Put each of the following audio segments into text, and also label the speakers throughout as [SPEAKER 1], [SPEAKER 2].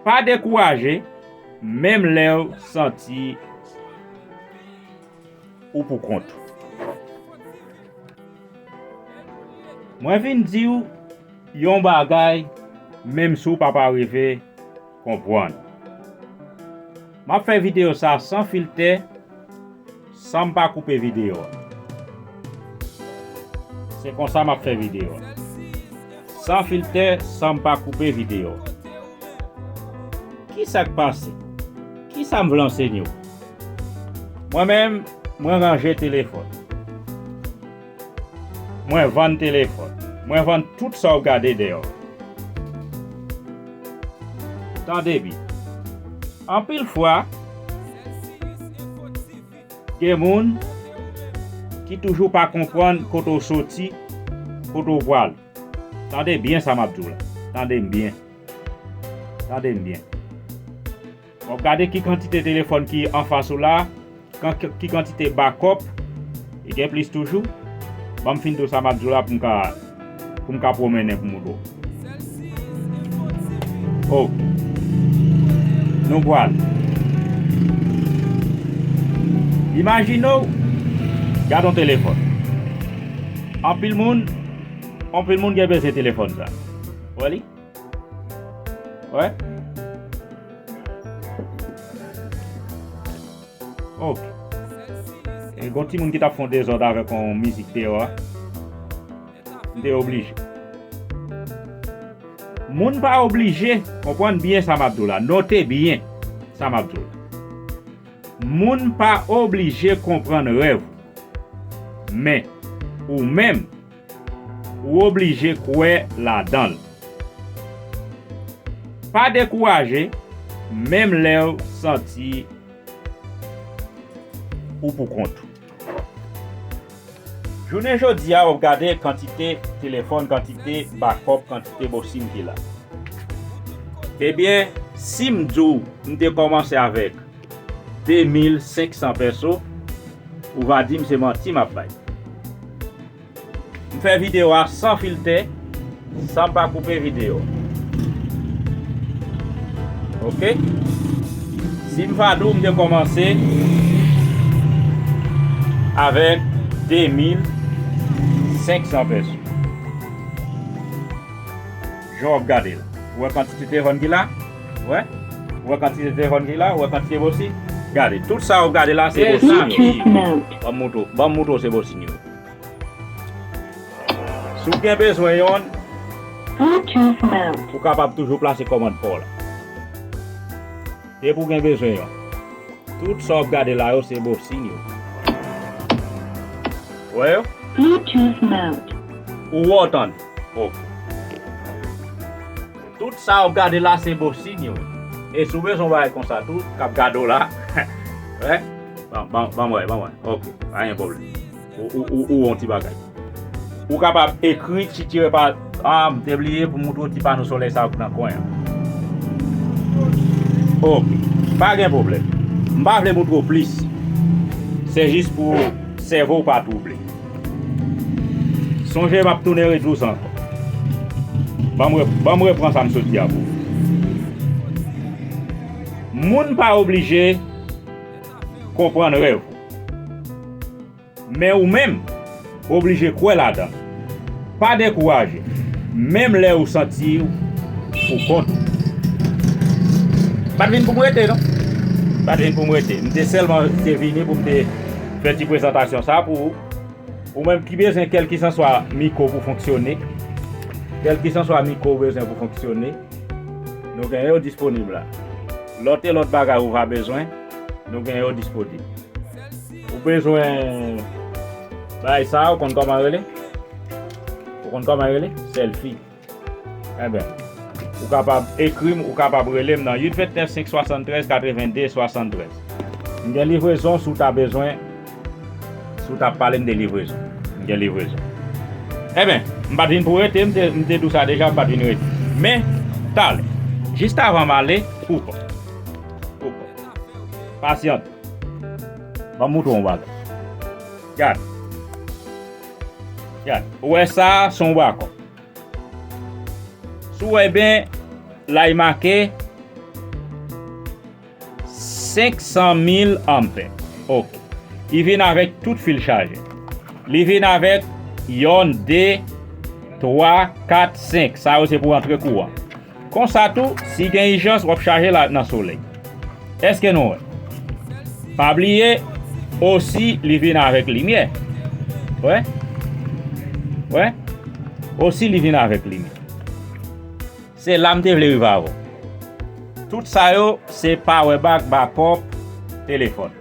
[SPEAKER 1] Pa dekouraje, menm lèw santi ou pou kont ou. Mwen vin diw yon bagay menm si w pap arive konpwann. Map fè video sa san filtè. San m pa koupe videyo a. Se konsa m ap fè videyo a. San filtè, san m pa koupe videyo a. Ki sa k pase? Ki sa m vle ansenye w? Mwen menm, mwen ranje telefòn. Mwen vann telefòn. Mwen vann tout sa w gade deyò a. Tande byen. Anpil fwa, gen moun ki toujou pa konprann kote w soti, kote w prale. Tande byen sa m ap di w la. Tande m byen. Tande m byen. Bon gade ki kantite telefòn ki anfas ou la, ki kantite bakòp, e gen plis toujou, banm fin do sa map diw la poum ka poum ka pwomennen pou mou do. Oh. Nou pral. Imajine w, gad yon telefòn. Anpil moun, anpil moun gen bezwen telefòn sa. Wè li? Wè? Oh! E gon ti moun ki tap fon dezòd avèk on mizik te yo a. M te oblije. Moun pa oblije, konpwann byen sa map diw la, note byen sa map diw la. Moun pa oblije konpwann rèv ou. Men, ou menm. Ou oblije kwè ladan l. Pa dekouraje menm lè w santi ou pou kont ou. Jounen jodi a w ap gade kantite telefòn, kantite bakòp, kantite bo sim ki la. Ebyen si m di w m te kòmanse avèk. 2500 pèso ou va dim se manti map bay. M fè video a san filtè sanm pa koupe video ok sim va di w m te komanse avek 2500 pèso. Jan wap gadel ou wè kantite tehon ki la ou wè ou wè kantite tehon ki la ou wè kantite bosi gade tout sa wap gade la se bosi banm moutre w banm moutre w se bosi yo si w gen bezwen yon ou kapab toujou plase kòmand paw la depi w gen bezwen yon tout sa wap gade la yo se bosi yo ou wè yo
[SPEAKER 2] ou wè w tande.
[SPEAKER 1] ok. Tout sa wap gade la se bon signe wi e si w bezwen yon bagay konsa tou kap gade w la wè banm wè banm wè ok pa gen pwoblm ou wè yon ti bagay ou kapab ekri ti tire pa a m te bliye pou m montre w ti pano solèy sa ki nan kwen an ok pa gen pwoblm m pa vle montre w plis se jis pou sèvo w pa twouble. Sonje map tounen retou san. Banm repran sa m sot di a pou ou. Moun pa oblije konprann rèv ou. Men ou menm ou oblije kwè ladan l. Pa dekouraje menm lè ou santi ou pou kont ou. M pat vin pou m rete non. M pat vin pou m rete. M te sèlman te vini pou m te. Fè ti prezantasyon sa pou ou. Ou menm ki bezwen kèlkisanswa mikwo pou fonksyone. Kèlkisanswa mikwo ou bezwen pou fonksyone, nou gen yo disponib la. Lòt e lòt bagay ou va bezwen, nou gen yo disponib. Ou bezwen bagay sa ou konn kòman rele? Ou konn kòman rele? Sèlfi. Enben, ou kapab ekri m ou kapab rele m nan 829 573 82 73. M gen livrezon si w ta bezwen, si w ta pale m de livrezon. M gen livrezon. Enben, m pa t vin pou rete, m te, m te di w sa deja, m pa t vin rete. Men, talè. Jistavan m ale, ou pa. Ou pa. Pasyante. Ban m montre w yon bagay. Gad. Gad, ou wè sa a se yon bwa kòk. Si w wè byen, la li make 500 mil anpè. Ok. Li vin avèk tout fil chaje. Li vin avèk yonn, de, twa, kat, senk. Sa yo se pou antre kouran. Konsa tou, si gen ijans wap chaje la nan solèy. Eske nou wè? Pa bliye osi li vin avèk limyè. Wè? Wè? Osi li vin avèk limyè. Se la m te vle rive avè w. Tout sa yo se power bank, backup, telefòn.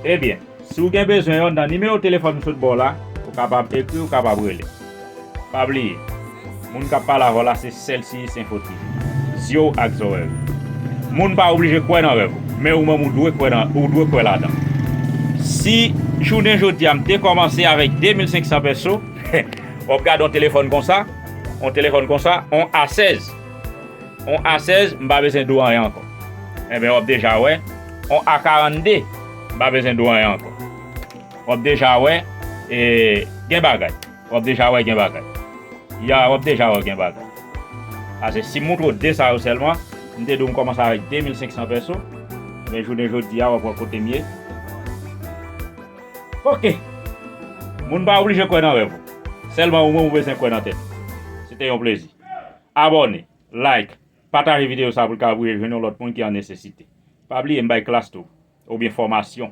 [SPEAKER 1] Ebyen. Si w gen bezwen yo, nan nimewo telefòn m sot ba w la, ou kapab ekri, ou kapab rele. Pa bliye, moun k ap pale avè w la se Sèlsiyis Enfo TV, zye w ak zòrèy ou. Moun pa oblije kwè nan rèv ou, men ou menm ou dwe kwè nan, ou dwe kwè ladan l. Si jounen jodi a m te kòmanse avèk 2500 pèso, w ap gade yon telefòn konsa, yon telefòn konsa, yon A16, yon A16, m pa bezwen di w anyen ankò. Enben w ap deja wè, yon A42. M pa bezwen di w anyen ankò. W ap deja wè e gen bagay. W ap deja wè gen bagay. Ya w ap deja wè gen bagay. Pase si m montre w 2 sa yo sèlman, m te di w m kòmanse avèk 2500 pèso, men jounen jodi a w ap wè kote m ye. Ok! Moun pa oblije kwè nan rèv ou. Sèlman ou menm ou bezwen kwè nan tèt ou. Se te yon plezi. Abòne, like, pataje videyo sa pou l ka voye jwenn yon lòt moun ki an nesesite. Pa bliye m bay klas tou. Oubyen fòmasyon.